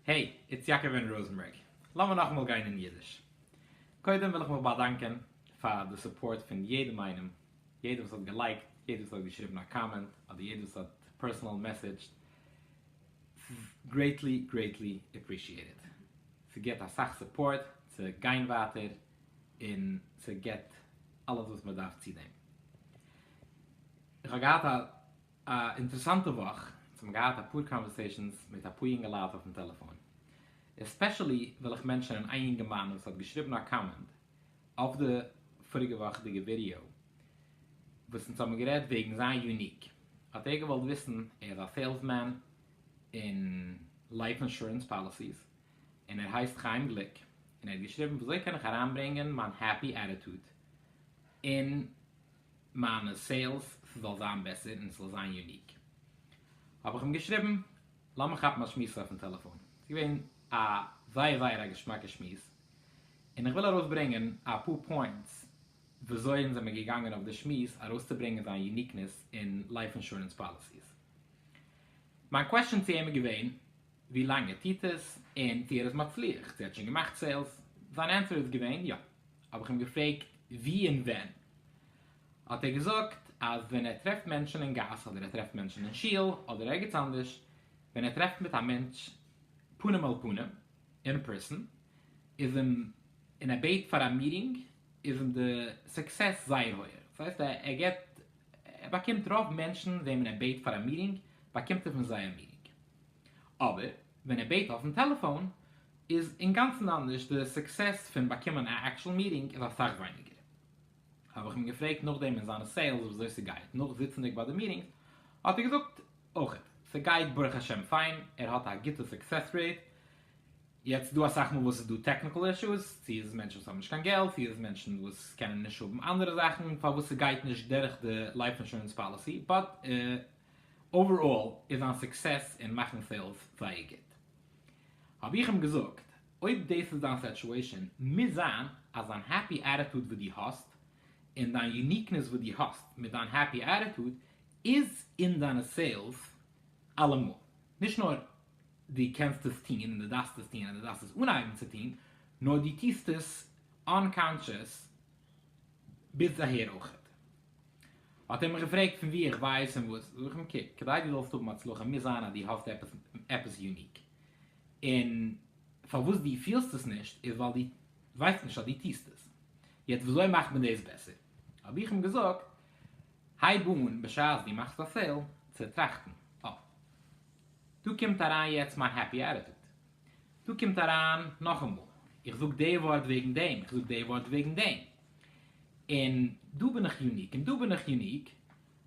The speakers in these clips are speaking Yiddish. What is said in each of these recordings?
העי, איטס יעקב אין ראזענבערג. לאמיר נאכאמאל גיין אין אידיש. קודם וויל איך מיך באדאנקען פאר די סופארט פון יעדעם איינעם, יעדער וואס האט געלייקט, יעדער וואס האט געשריבן א קאמענט, אדער יעדער וואס האט פערסענאל מעסעדזשט. ס'איז גרעיטלי גרעיטלי עפרישיעטעד. ס'געט אסאך סופארט צו גיין ווייטער, און ס'געט אלעס וואס מ'דארף צו דעם. איך האב געהאט א. א אינטערעסאנטע וואך, איך האב געהאט אפאר קאנווערסעישאנס מיט אפאר יונגעלייט אויפן טעלעפאן, עספעשעלי וויל איך מענטשענען איין יונגערמאן וואס האט געשריבן א קאמענד אויף די פאריגע וואכ'דיגע ווידעא וואס אונז האבן גערעדט וועגן זיין יוניק, האט ער געוואלט וויסן, ער איז א סעילסמען אין לייף אינשורענס פאליסיס, און ער הייסט חיים גליק, און ער האט געשריבן וויאזוי קען איך אריינברענגען מיין העפי עטיטוד אין מיינע סעילס ס'זאל זיין בעסער און ס'זאל זיין יוניק, האב איך אים געשריבן לאמיר כאפן א שמועס אויפן טעלעפאן, ס'איז געווען א זייער זייער א געשמאקע שמועס, און איך וויל ארויסברענגען אפאר פוינטס וויאזוי אונז זעמיר געגאנגען אויף די שמועס ארויסצוברענגען זיין יוניקנעס אין לייף אינשורענס פאליסיס. מיין קוועשאן צו אים איז געווען. ווי לאנג ער טוט עס און צו ער איז מצליח, צו ער האט שוין געמאכט סעילס, זיין ענטפער איז געווען יא, האב איך אים געפרעגט ווי און ווען, האט ער געזאגט אז ווען ער טרעפט מענטשן אין גאס אדער ער טרעפט מענטשן אין שול אדער ערגעץ אנדערש, ווען ער טרעפט מיט א מענטש פנים אל פנים, אין פערסאן, איז אים, און ער בעט פאר א מיטינג, איז אים די סוקסעס זייער הויעך, דאס הייסט ער געט, ער באקומט רוב מענטשן וועמען ער בעט פאר א מיטינג באקומט ער פון זיי א מיטינג. אבער ווען ער בעט אויפן טעלעפאון איז אינגאנצן אנדערש, די סוקסעס פון באקומען א עקטשול מיטינג איז אסאך ווייניגער. האב איך אים געפרעגט נאכדעם אין זיינע סעילס וויאזוי ס'גייט נאך זיצענדיג ביי די מיטינגס, האט ער געזאגט אויכעט ס'גייט ברוך השם פיין, ער האט א גוטע סוקסעס רעיט, יעצט ס'דא אסאך מאל וואס ס'איז דא טעקניקעל אישוס, צו איז מענטשן וואס האבן נישט קיין געלט, צו איז מענטשן וואס קענען נישט האבן אנדערע זאכן פארוואס ס'גייט נישט דורך די לייף אינשורענס פאליסי, באט אוועראל איז זיין סוקסעס אין מאכן סעילס זייער גוט. האב איך אים געזאגט, אויב דאס איז דיין סעטועישאן, מוז זיין אז דיין העפי עטיטוד וואס דו האסט, און דיין יוניקנעס וואס דו האסט מיט דיין העפי עטיטוד, איז אין דיינע סעילס אלעמאל. נישט נאר דו קענסט עס טון, און דו דארפסט עס טון, און דו דארפסט עס אנהייבן צו טון, נאר דו טוסט עס אנקאנטשעס ביז אהער אויכעט. האט ער מיך געפרעגט פון וואו איך ווייס און וואס, זאג איך אים קוק, כדי דו זאלסט האבן הצלחה מוז זיין אז דו האסט עפעס יוניק, און פארוואס דו פילסט עס נישט איז ווייל דו ווייסט נישט אז דו טוסט עס, יעצט ווי אזוי מאכט מען דאס בעסער? האב איך אים געזאגט, הייב אן בשעת דו מאכסט א סעיל צו טראכטן, אה, דא קומט אריין יעצט מיין העפי עטיטוד, דא קומט אריין נאכאמאל, איך זאג די ווארט וועגן דעם, איך זאג די ווארט וועגן דעם, און דא בין איך יוניק, און דא בין איך יוניק,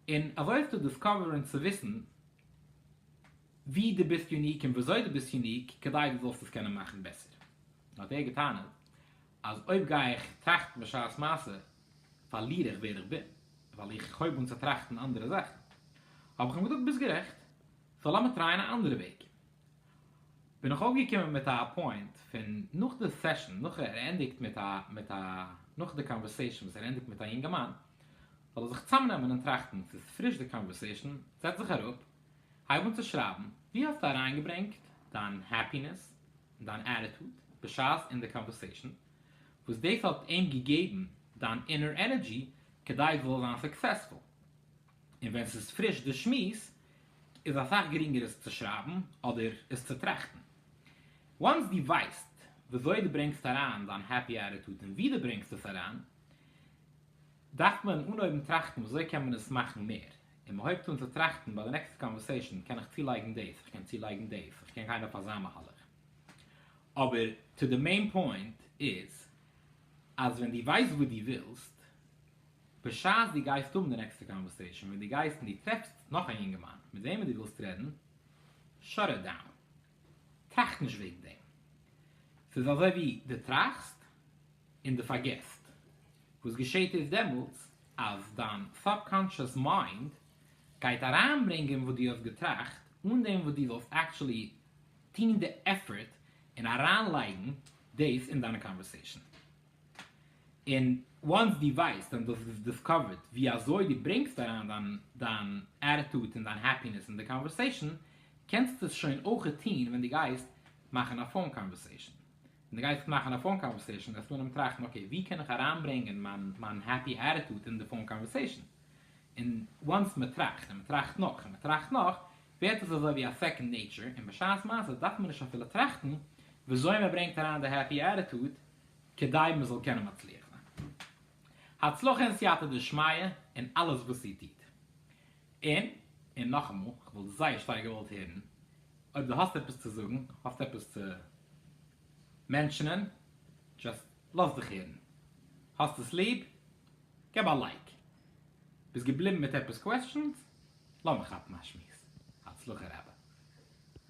און אזוי צו דיסקאווערן צו וויסן ווי דו ביסט יוניק און וויאזוי דו ביסט יוניק כדי דו זאלסט עס קענען מאכן בעסער. האט ער געטענה'ט אז אויב גיי איך טראכטן בשעת מעשה פארליר איך ווער איך בין, ווייל איך הויב אן צו טראכטן אנדערע זאכן. האב איך אים געזאגט ביסט גערעכט, סאו לאמיר טרייען א אנדערע וועג. בין איך אויפגעקומען מיט א פוינט פון נאך די סעשאן נאך ער ענדיגט מיט א מיט א נאך די קאנווערסעישאן וואס ער ענדיגט מיט א יונגערמאן זאל ער זיך צאמנעמען און טראכטן ס'איז פריש די קאנווערסעישאן זעץ זיך אראפ הייב אן צו שרייבן ווי האסטו אריינגעברענגט דיין העפינעס און דיין עטיטוד בשעת אין די קאנווערסעישאן וואס דאס האט אים געגעבן דיין אינער ענערדזשי כדי דו זאלסט זיין סוקסעספול. און ווען ס'איז פריש די שמועס איז אסאך גרינגער עס צו שרייבן אדער עס צו טראכטן. וואנס דו ווייסט וויאזוי דו ברענגסט אריין דיין העפי עטיטוד און ווי דו ברענגסט עס אריין, דארף מען אנהויבן טראכטן וויאזוי קען מען עס מאכן מער, און מען הויבט אן צו טראכטן ביי די נעקסטע קאנווערסעישאן קען איך צולייגן דאס, איך קען צולייגן דאס, איך קען גיין אויף אזא מהלך. אבער טו די מעין פוינט איז אז ווען דו ווייסט וואס דו ווילסט, בשעת דו גייסט האבן די נעקסטע קאנווערסעישאן ווען דו גייסט און דו טרעפסט נאך א יונגערמאן מיט וועמען דו ווילסט רעדן, שאט איט דאון. טראכט נישט וועגן דעם. ס'איז אזוי ווי דו טראכסט און דו פארגעסט. וואס געשעט איז דעמאלטס אז דיין סאבקאנטשעס מיינד גייט אריינברענגען וואס דו האסט געטראכט אן דעם וואס דו זאלסט עקטשולי טון די עפפארט און אריינלייגן דאס אין דיינע קאנווערסעישאן. און וואנס דו ווייסט און דאס איז דיסקאווערד ווי אזוי דו ברענגסט אריין דיין דיין עטיטוד און דיין העפינעס אין די קאנווערסעישאן, קענסטו עס שוין אויכעט טוהן ווען דו גייסט מאכן א פאון קאנווערסעישאן. ווען דו גייסט מאכן א פאון קאנווערסעישאן וועסטו אנהייבן טראכטן אקעי ווי קען איך אריינברענגען מיין מיין העפי עטיטוד אין די פאון קאנווערסעישאן. און וואנס מען טראכט און מען טראכט נאך און מען טראכט נאך ווערט עס אזוי ווי א סעקאנד נעיטשער און בשעת מעשה דארף מען נישט אפילו טראכטן ווי אזוי מען ברענגט אריין די העפי עטיטוד כדי מען זאל קענען מצליח זיין. הצלחה און סייעתא דשמיא אין אלעס וואס איר טוט. און, און נאכאמאל, איך וואלט זייער שטארק געוואלט הערן אויב דו האסט עפעס צו זאגן, האסט עפעס צו מענטשענען, דזשאסט לאז דיך הערן. האסט עס ליב? געב א לייק. ביסט געבליבן מיט עפעס קוועסטשענס? לאמיר כאפן א שמועס. הצלחה רבה.